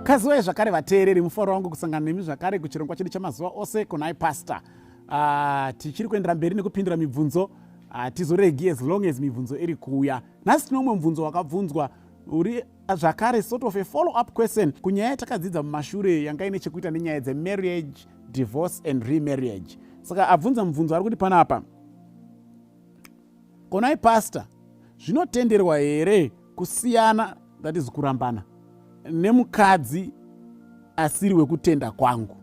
kaziwai zvakare vateereri mufaro wangu kusangana nemi zvakare kuchirongwa chedu chamazuva ose kunai pastor uh, tichiri kuendera mberi nekupindura mibvunzo hatizoregi ah, uh, as long as mibvunzo iri kuuya nhasi tine umwe mubvunzo wakabvunzwa uri zvakare sort of a follow up question kunyaya yatakadziidza mumashure yanga ine chekuita nenyaya dzemarriage divorce and remarriage saka abvunza mubvunzo ari kuti panapa konai pastor zvinotenderwa here kusiyana that is kurambana nemukadzi asiri wekutenda kwangu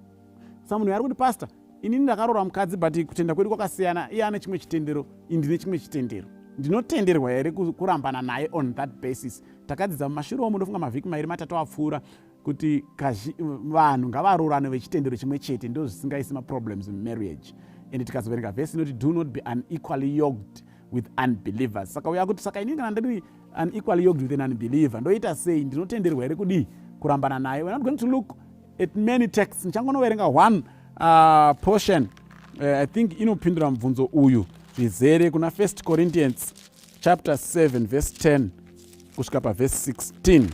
samunhu ari kuti pastor inini ndakarora mukadzi but kutenda kwedu kwakasiyana iye ane chimwe chitendero indine chimwe chitendero ndinotenderwa here kurambana naye on that basis takadzidza mumashure omu ndofunga mavhiki mairi matatu apfuura kuti vanhu ngavaroorane vechitendero chimwe chete ndo zvisingaisi maproblems mumarriage and tikazoverenga vhesi inoti do not be unequally yoked with unbelievers saka uya kuti saka inini kana ndiri unequally yoked with an unbeliever ndoita sei ndinotenderwa here kudii kurambana naye we're not going to look at many texts ndichangonoverenga one uh, portion uh, i think inopindura mubvunzo uyu zvizere kuna first corinthians chapter 7 verse 10 kusvika paverse 16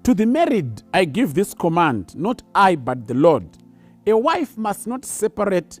to the married i give this command not i but the lord a wife must not separate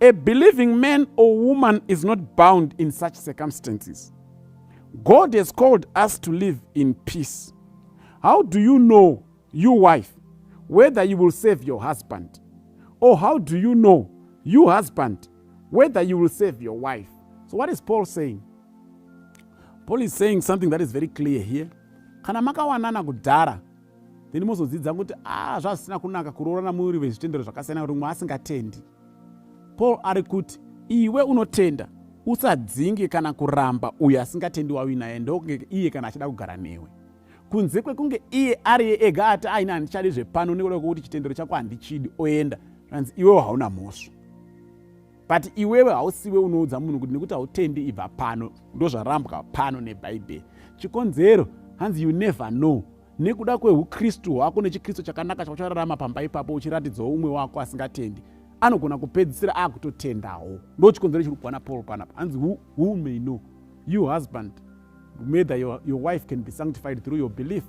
a believing man or woman is not bound in such circumstances god has called us to live in peace how do you know you wife whether you will save your husband or how do you know you husband whether you will save your wife so what is paul saying paul is saying something that is very clear here kana makawanana kudhara then mozodzidza kuti a ah, zvazvisina kunaka kuroorana muri vezvitendero zvakasiyana rimwe asingatendi paul ari kuti iwe unotenda usadzinge kana kuramba uyo asingatendi wavi naye ndokunge iye kana achida kugara newe kunze kwekunge iye ari ega ati aine handichadi zvepano nekuda kwekuti chitendero chako handichidi oenda zvanzi iwewo hauna mhosva but iwewe hausiwe unoudza munhu kuti nekuti hautendi ibva pano ndozvarambwa pano nebhaibheri chikonzero hanzi you never know nekuda kweukristu hwako nechikristu chakanaka chauchararama pamba ipapo uchiratidzawo umwe wako asingatendi anogona kupedzisira akutotendawo ndo chikonzero chiri kuwana paul panapa hanzi who, who may know you husband mather your, your wife can be sanctified through your belief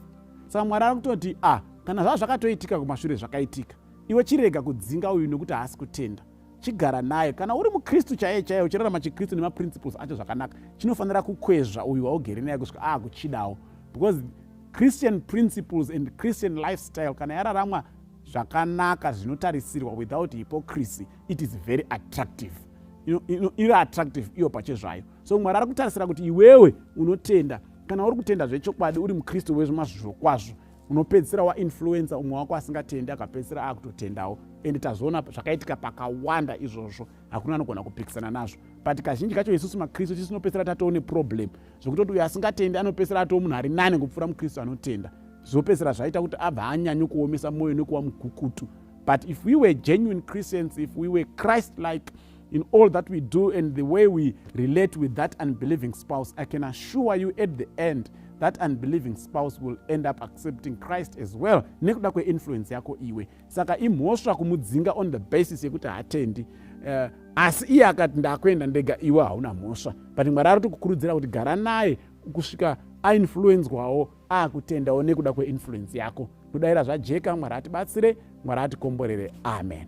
saka mwari ari kutoti ah kana zvava zvakatoitika kumashure zvakaitika iwe chirega kudzinga uyu nekuti haasi kutenda chigara nayo kana uri mukristu chaiye chaiye uchirarama chikristu nemaprinciples acho zvakanaka chinofanira kukwezva uyu waugere naye kusvika aakuchidawo because christian principles and christian lifestyle kana yararamwa zvakanaka zvinotarisirwa without hypocrisy it is very attractive iri attractive iyo pachezvayo so mwari ari kutarisira kuti iwewe unotenda kana uri kutenda zvechokwadi uri mukristu wezvemazviro kwazvo unopedzisira wainfluencer umwe wako asingatendi akapedzisira akutotendawo and tazviona zvakaitika pakawanda izvozvo hakuna anogona kupikisana nazvo but kazhinji kacho isusu makristu tisu tinopedzisira tatoo neproblem zvekutoti uyo asingatendi anopedzisira atoo munhu ari nane kupfuura mukristu anotenda zvopedzisira zvaita kuti abva anyanyo kuomesa mwoyo nekuva mukukutu but if we were genuine christians if we were christ like in all that we do and the way we relate with that unbelieving spouse i can assure you at the end that unbelieving spouse will end up accepting christ as well nekuda kweinfluence yako iwe saka imhosva kumudzinga on the basis yekuti hatendi uh, asi iye akati ndakuenda ndega iwe hauna mhosva but mwari ari tikukurudzira kuti gara naye kusvika ainfluenzwawo akutendawo nekuda kweinfluence yako kudaira zvajeka mwari atibatsire mwari atikomborere amen